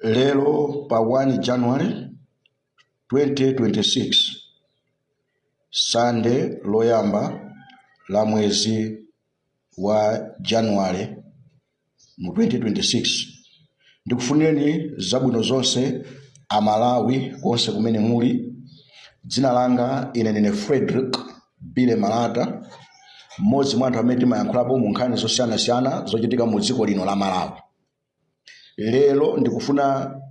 lero pa 1 january 2026 sande loyamba la mwezi wa january mu 2026 ndikufunireni zabwino zonse amalawi konse kumene muli dzina langa ine ndine frederick bile malata mmodzi mwa anthu amene timayankhulapo mu nkhani zosiyanasiyana zochitika mu dziko lino la malawi Lero ndikufuna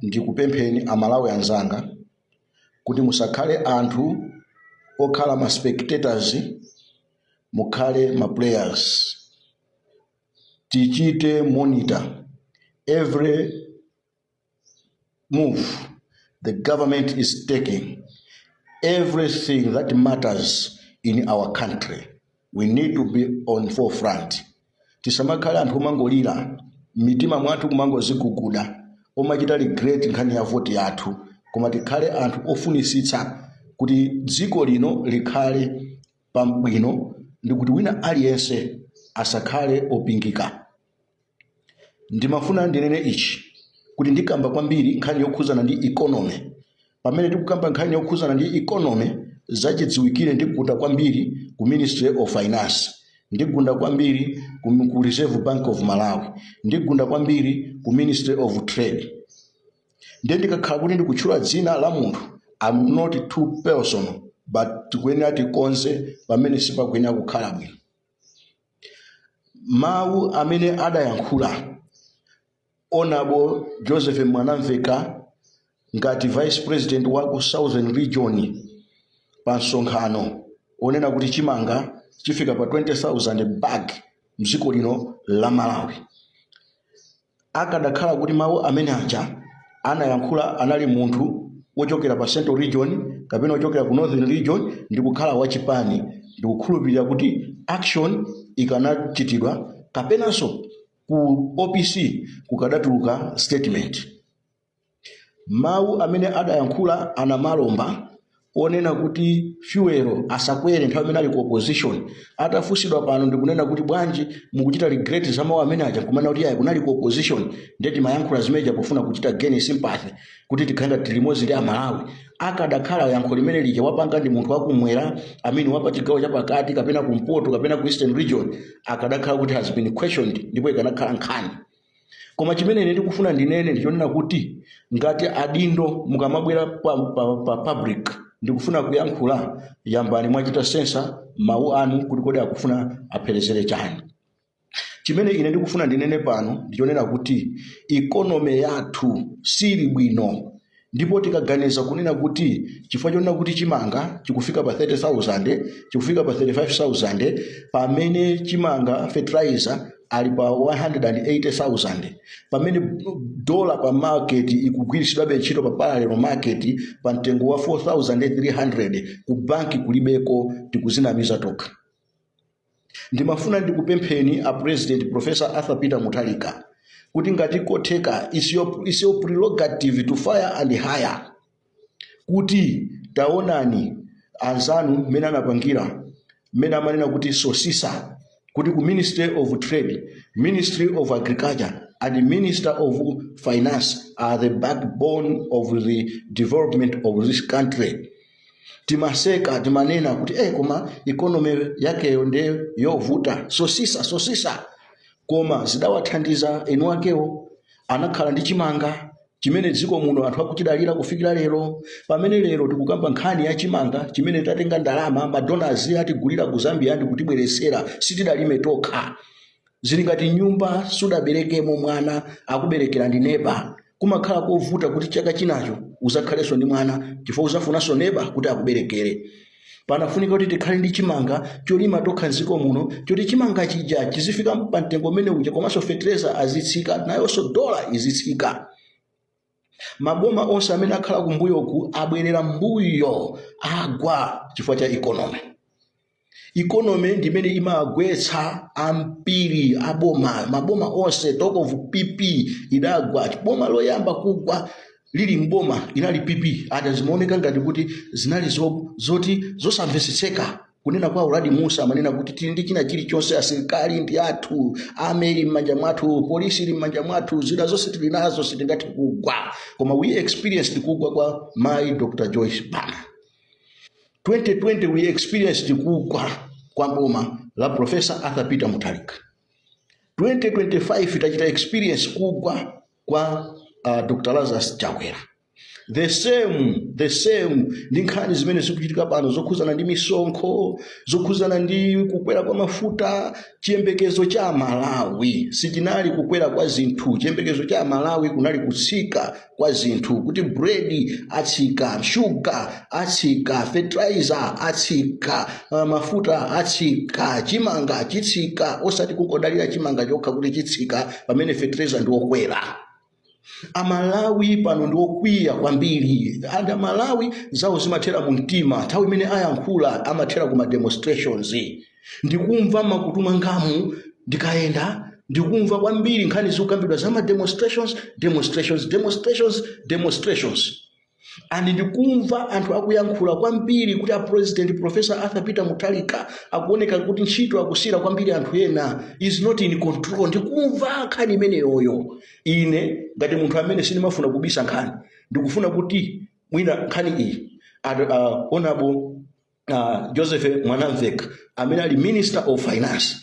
ndikupempheni a Malawi anzanga kuti musakhale anthu okhala ma spectators, mukhale ma players. Tichite monitor every move the government is taking everything that matters in our country we need to be on forefront tisamakhale anthu omangolira m'mitima mwathu kumangoziguguda omachita regret nkhani ya voti yathu koma tikhale anthu ofunisitsa kuti dziko lino likhale pabwino ndi kuti wina aliyense asakhale opingika Ndimafuna ndinene ichi kuti ndikamba kwambiri nkhani yokhuzana ndi economy. Pamene tikukamba nkhani yokhuzana ndi economy, zachidziwikire ndigunda kwambiri ku Ministry of Finance, ndigunda kwambiri ku Reserve Bank of Malawi, ndigunda kwambiri ku Ministry of Trade. Ndiye ndikakhala kuti ndikutchula dzina la munthu, I'm not too personal, but tikuyenera tikonze pamene sipakuyenera kukhala bwino. Mawu amene adayankhula Hon. Joseph Mwanamvekha ngati Vice President wa ku Southern Region pa msonkhano onena kuti chimanga chifika pa 20,000 bag mdziko lino la Malawi. Akadakhala kuti mawu amene aja anayankhula anali munthu wochokera pa Central Region kapena wochokera ku Northern Region ndi kukhala wa chipani, ndikukhulupirira kuti action ikanachitidwa kapenanso ku opc kukadatuluka statement. Mawu amene adayankhula a Namalomba onena kuti fuel asakwere nthawi imene ali ku opposition atafunsidwa pano ndikunena kuti bwanji mukuchita regret za mawu amene aja kumanena kuti ayi kunali ku opposition ndiye timayankhula zimeneja pofuna kuchita gain sympathy kuti tikhale ngati tili limodzi ndi amalawi akadakhala yankho limene lija wapanga ndi munthu wakumwera amene wapa chigawo chapakati kapena kumpoto kapena ku eastern region akadakhala kuti has been questioned ndipo ikanakhala nkhani koma chimene ine ndikufuna ndinene ndichonena kuti ngati adindo mukamabwera pa public ndikufuna kuyankhula yambani mwachita sensa mawu anu kuti kodi akufuna apherezele chani chimene ine ndikufuna ndinene pano ndichonena kuti ikonomi yathu sili bwino ndipo tikaganiza kunena kuti chifukwa chonena kuti chimanga chikufika pa 30000 chikufika pa 35000 pamene chimanga fertilizer ali pa 180000 pamene dola pa market ikugwiritsidwabe ntchito pa parallel market pa mtengo wa 4300 ku banki kulibeko tikuzinamiza tokha Ndimafuna ndikupempheni a President Prof. Arthur Peter Mutharika kuti ngati kotheka is your prerogative to fire and hire kuti taonani anzanu mmene anapangira mmene amanena kuti sosisa kuti ku ministry of trade ministry of agriculture and minister of finance are the backbone of the development of this country timaseka timanena kuti eh, koma ikonomi yakeyo nde yovuta sosisa sosisa koma zidawathandiza eni akewo anakhala ndi chimanga chimene dziko muno anthu akuchidalira kufikira lero pamene lero tikukamba nkhani ya chimanga chimene tatenga ndalama madonazi atigulira ku zambia ndi kutibweretsera sitidalime tokha zili ngati nyumba sudaberekemo mwana akuberekera ndi neba kumakhala kovuta kuti chaka chinacho uzakhalenso ndi mwana chifukwa uzafunanso neba kuti akuberekere panafunika kuti tikhale ndi chimanga cholima tokha mdziko muno choti chimanga chija chizifika pa mtengo umene uja komanso fetereza azitsika nayonso dola izitsika maboma onse amene akhala kumbuyoku abwerera mbuyo agwa chifukwa cha ikonomi ikonomi ndi imene imagwetsa ambiri aboma maboma onse talk of pp idagwa boma loyamba kugwa lili mboma inali pp ata zimaoneka ngati kuti zinali zo- zoti zosamvetsetseka kunena kwa uladi musa amanena kuti tili ndi china chilichonse asilikali ndi athu army ili m'manja mwathu polisi ili m'manja mwathu zida zonse tili nazo sitingathe kugwa koma we experienced kugwa kwa mayi dr joyce banda 2020 we experienced kugwa kwa boma la professor arthur peter mutharika 2025 tachita experience kugwa kwa uh, dr lazarus chakwera the same the same ndi nkhani zimene zikuchitika pano zokhuzana ndi misonkho zokhuzana ndi kukwera kwa mafuta chiyembekezo cha amalawi sichinali kukwera kwa zinthu chiyembekezo cha amalawi kunali kutsika kwa zinthu kuti bread atsika shuga atsika fertilizer atsika uh, mafuta atsika chimanga chitsika osati kungodalira chimanga chokha kuti chitsika pamene fertilizer ndi wokwera amalawi pano ndi okwiya kwambiri and amalawi zawo zimathera mu mtima nthawi imene ayankhula amathera ku ma demonstrations ndikumva m'makutu mwangamu ndikayenda ndikumva kwambiri nkhani zikukambidwa za ma demonstrations demonstrations demonstrations demonstrations and ndikumva anthu akuyankhula kwambiri kuti a president professor arthur peter mutharika akuoneka kuti ntchito akusiyira kwambiri anthu ena he's not in control ndikumva nkhani imeneyoyo ine ngati munthu amene sindimafuna kubisa nkhani ndikufuna kuti mwina nkhani iyi ad- ah, honorable uh, joseph mwanamvekha amene ali minister of finance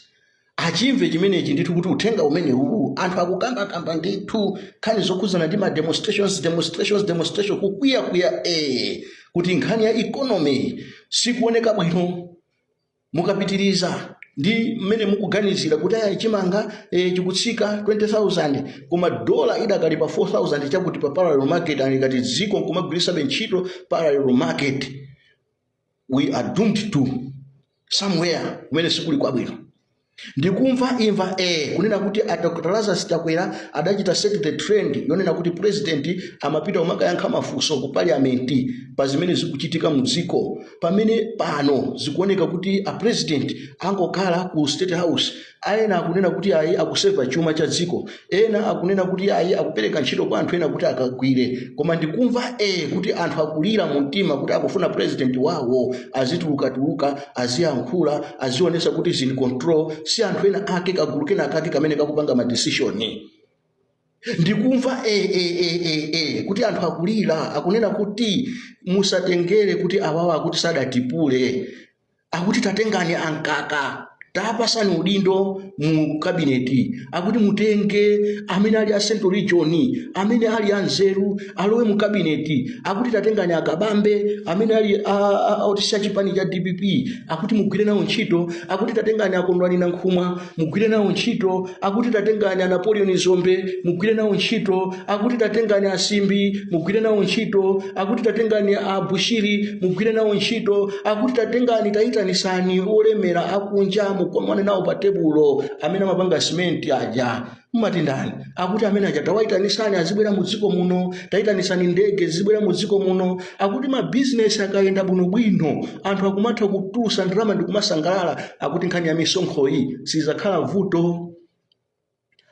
achimve chimenechi ndithu kuti uthenga umene uwu anthu akukambakamba ndithu nkhani zokhudzana ndi ma demonstrations demonstrations demonstration kukwiyakwiya eh, kuti nkhani ya economy sikuoneka bwino mukapitiriza ndi mmene mukuganizira kuti aya chimanga e, chikutsika 20000 koma dola idakali pa 4000 chakuti pa parallel market ngati dziko nkumagwiritsabe ntchito parallel market we are doomed to somewhere kumene sikuli kwabwino ndikumva imva eh kunena kuti a dr lazarus chakwera adachita set the trend yonena kuti president amapita kumakayankha mafunso ku parliament pa zimene zikuchitika mu dziko pamene pano zikuoneka kuti a president angokhala ku state house ena akunena kuti ayi akuseva chuma cha dziko ena akunena kuti ayi akupereka ntchito kwa anthu ena kuti akagwire koma ndikumva e kuti anthu akulira mu mtima kuti akufuna president wawo azitulukatuluka aziyankhula azionesa kuti he's in control si anthu ena ake kagulu kena kake kamene kakupanga madesishoni ndikumva e, e, e, e, e, kuti anthu akulira akunena kuti musatengere kuti awawa akuti sadatipule akuti tatengani a mkaka tawapatsani udindo mu kabineti akuti mutenge amene ali a central region amene ali anzeru alowe mu kabineti akuti tatengani a kabambe amene ali otsutsa chipani cha dpp akuti mugwire nawo ntchito akuti tatengani a kondwani nankhumwa mugwire nawo ntchito akuti tatengani a napoleon dzombe mugwire nawo ntchito akuti tatengani a simbi mugwire nawo ntchito akuti tatengani a bushiri mugwire nawo ntchito akuti tatengani tayitanisani olemera akunja mukomane nawo pa tebulo amene amapanga simenti aja mumati ndani akuti amene aja tawaitanisani azibwera mu dziko muno taitanisani ndege zibwera mu dziko muno akuti mabizinesi akayenda bwinobwino anthu akumatha kutulusa ndalama ndi kumasangalala akuti nkhani ya misonkhoyi sizakhala vuto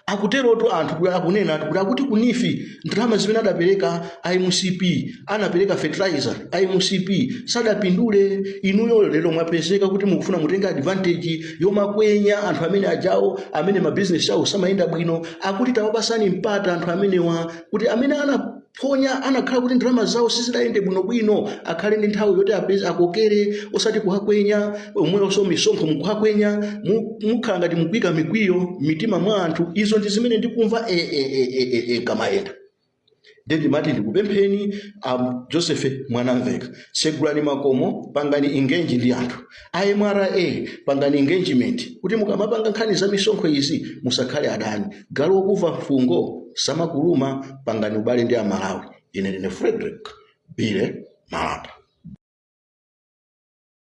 akuterotu anthu akunenatu kuti akuti ku NEEF ndalama zimene adapereka a mcp anapereka fertilizer a mcp sadapindule inuyo lero mwapezeka kuti mukufuna mutenge advantage yomakwenya anthu amene ajawo amene mabizinesi awo samayenda bwino akuti tawapasani mpata anthu amenewa kuti amene anaphonya anakhala kuti ndalama zawo sizidayende bwinobwino akhale ndi nthawi yoti apeze akokere osati kuwakwenya omwenso misonkho mukuwakwenya mu- mukhala ngati mukuika mikwiyo m'mitima mwa anthu izo ndi zimene ndikumva e, e, e, e, e, e, kamayenda nde ndimati ndikupempheni um, joseph mwanamveka tsegulani makomo pangani engage ndi anthu a mra pangani engagement kuti mukamapanga nkhani za misonkho izi musakhale adani galu wokuva mfungo samakuluma pangani ubale ndi amalawi ine ndine frederick billy malata